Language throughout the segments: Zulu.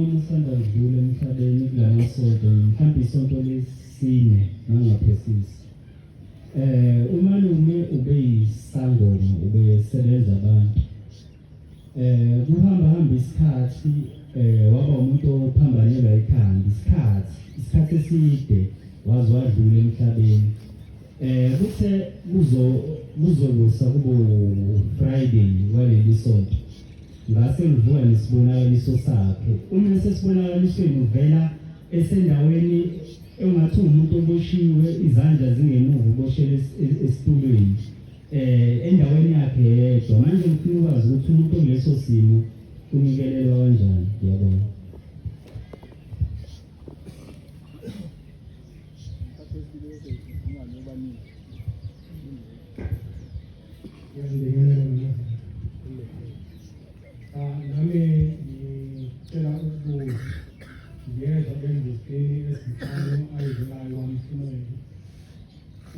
Usanda kudlula emhlabeni kulama sonto mhlawumbe isonto lesine nangaphezisi eh umalume ube yisangoma ube sebenza abantu eh kuhamba hamba isikhathi eh waba umuntu ophambanelwa ikhanda isikhathi isikhathi eside waze wadlula emhlabeni eh kuthe kuzo kuzokusa kubo Friday waleli sonto Ngase ngivuka nesibonakaliso sakhe. Uma esesibonakalisweni uvela esendaweni engathi umuntu oboshiwe izandla zingemuva uboshele esitulweni eh endaweni yakhe yedwa manje ngifuna ukwazi ukuthi umuntu oleso simo unikelelwa kanjani yabona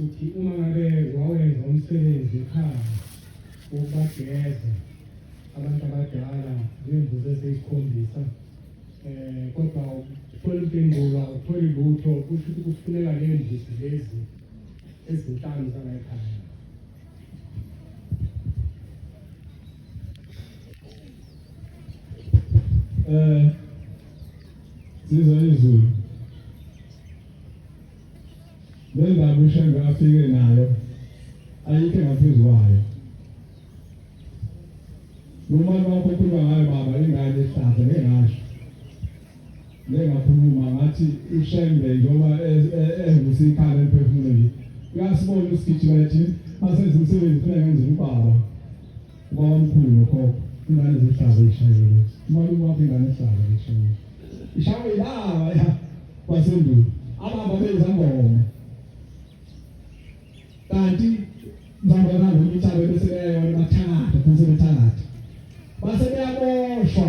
ukuthi uma ngabe wawenza umsebenzi ekhaya ukubageza abantu abadala ngemvuzo eseyisikhombisa um kodwa uthole impendulo awutholi lutho kusho ukuthi kufuneka ley'mbuzi lezi ezinhlanu zala ekhaya eh siza izulu le ndaba ushembe afike nayo ayikho engaphezu kwayo noma lokho kuba ngayo baba ingane ehlaza ngengasho Njengakhuluma ngathi uShembe njengoba evusa ikhala emphefumulweni. Uyasibona usigijima ethi masenze umsebenzi kufuneka ngenze ubaba. Ubaba omkhulu nokhokho ingane ezihlaza ishayelwe. Umalume wakho ingane ehlaza ishayelwe. Ishaywe ilaba ya kwasendulo. Ababa benza ngoma. Kanti ngihamba nabo imithabo bese beyayona bathakatha, bese bethakatha. Base beyaboshwa.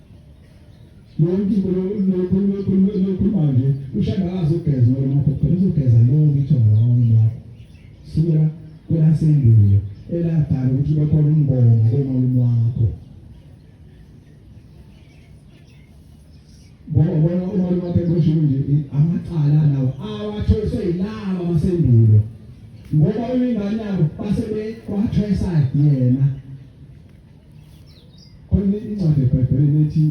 yonke into lokhuluma nje ushanda akazogeza ngoba maphokopela uzogeza yonke into ngawona wakho sukela kwelasendulo eladala ukuthi ube khona umbongo komalume wakho bona bona umalume wakho eboshini nje amacala lawo awatholiswe yilaba basendulo ngoba uyingane yabo base bekwathoyisa yena Khona incwadi eBhayibhelini ethi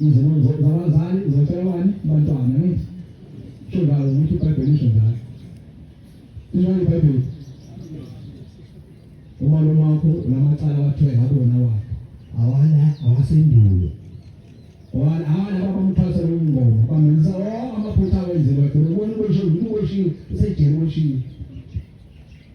izinto zabazali zotshelwani bantwana ne sho ngalo ukuthi iBhayibheli isho ngalo injalo iBhayibheli uma lo makho namacala wathiwe ngabona wakho awana awasendulo wona awana abamthwasa lomngoma bamenza wonke amaphutha awenziwe khona ubona uboshiwe uboshiwe usejele uboshiwe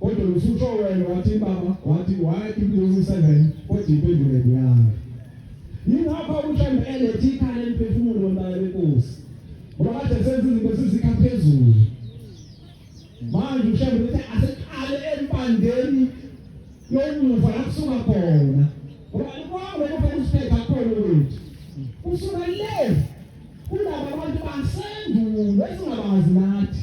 Kodwa lufutho wena wathi baba wathi why people using seven kodwa impendulo yakho. Yingakho umhlawumbe elethe ikhaya eliphefumulo lombala lenkosi. Ngoba kade senza izinto sizikha phezulu. Manje umhlawumbe uthi aseqale empandeni yomuva la kusuka khona. Ngoba kwakho lokho usiphetha khona ukuthi usuka le kulaba bantu basendulo esingabazi nathi.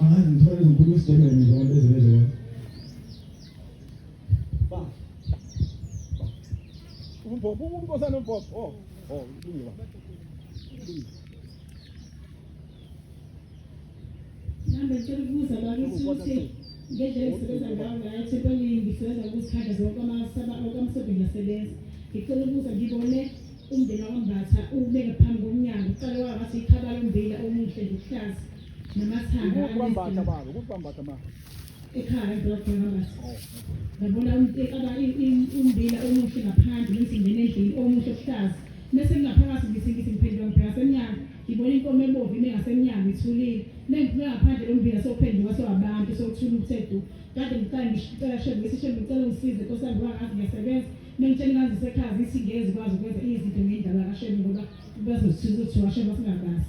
Angazi ngithole ngikhuluma isiGerman nje abantu bezelezo wami. Ba. Umbhobho unkosana umbhobho. Oh, oh, ilungiwa. Nami ngicela ukubuza bakithi ukuthi ngendlela engisebenza ngayo ngayo thempelini ngisebenza ngokuzikhanda zonke amasodo ngiyasebenza ngicela ukubuza ngibone umndeni wakambatha ubeke phambi komnyango uqale waba ngathi ikhabala umbila omuhle nje uhlaza Ikuphi bambatha baba? Ikuphi bambatha baba? Ekhaya doktor bambatha. Oh, Ngabona umtekaba umbila omuhle ngaphandle ngithi ngene endlini omuhle okuhlaza. Mese ngingaphakathi ngithi ngithi ngiphendula ngibheka semnyango. Ngibona inkomo ebomvu ime ngasemnyango ithulile. Mengiphuma ngaphandle lombila sophenduka sowabantu sokuthula uthe du. Kade ngicela ngicela shembe ngithi shembe ngicela ungisize nkosi yami ngoba ngazi ngiyasebenza. Mengitshela ngazi sekhaya zithi ngezi kwazi ukwenza izinto ngendaba kashembe ngoba bazosithuza ukuthi washembe singabazi.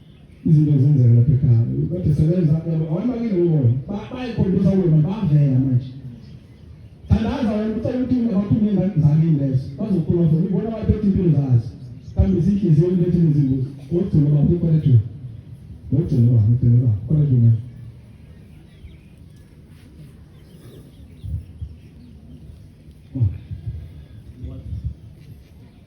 izinto ezenzeka lapha ekhaya kade sebenza awayibakile wona bayikhombisa wena bavela manje thandaza wena ucela ukuthi abaphumile ezanzakini lezo bazokhuluma futhi ubona abaphethe impilo zazo kambe zinhliziyo ulethe nezimbuzi wogcina baphi kwalethu wogcina baphi wogcina baphi kwalethu manje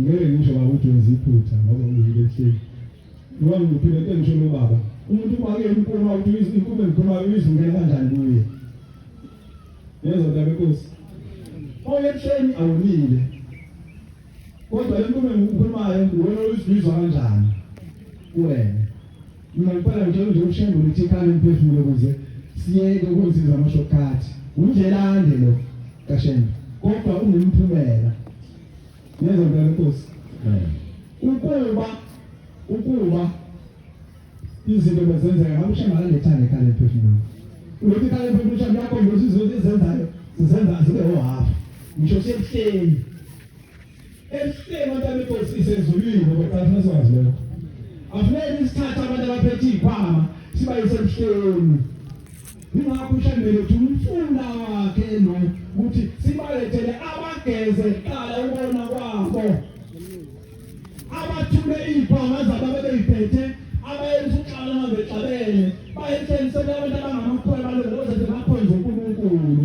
ngeke ngisho baba ukuthi wenza iphutha ngoba uyile ehleli ngoba ngiphile ke ngisho lo baba umuntu uma ke inkuma ukuthi inkuma inkuma izungena kanjani kuye yezo ndaba enkosi oye ehleli awonile kodwa le nkuma engikhulumayo wena uyizizwa kanjani kuwena Mina ngiphala ngitshela nje ushembe ukuthi ikhala emphefumulo ukuze siyeke ukunsiza amashokhathi. Undlelande lo kashembe kodwa unemphumela. Neza ngibona inkosi. Ukuba ukuba izinto bezenzeka ngabe ushembe akalethane ikhala emphefumulo. Ulothi ikhala emphefumulo ushembe yakho nje usizo ezenzayo sizenza zibe ohafu. Ngisho sebuhleni Esihlele abantu abekosi isezulwini ngokuqala sazi lokho. Afuneka isithatha abantu abaphethe izikhwama sibayise emhlelweni. Ingakho ushambele ukuthi umfunda wakhe lo ukuthi sibalethele abageze qala ubona kwabo. Abathule izikhwama zabo bebeyiphethe abayenza uxhala ngabexabele bayetshela abantu abangamakhwela balokuze bakhonze uNkulunkulu.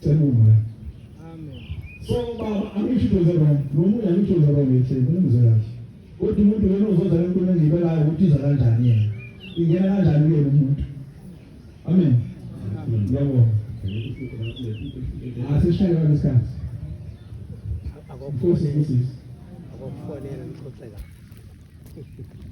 Cela umoya. Amen. So baba angisho into zero. Nomunye angisho zero ngithi ngimuzwe kahle. Kodwa umuntu yena uzodla inkulumo engibelayo ukuthi iza kanjani yena. Ingena kanjani ke umuntu. Amen. Ngiyabonga. Asishaye ah, ngesikhathi. Akukho sisi. Akukho nene ngixoxela.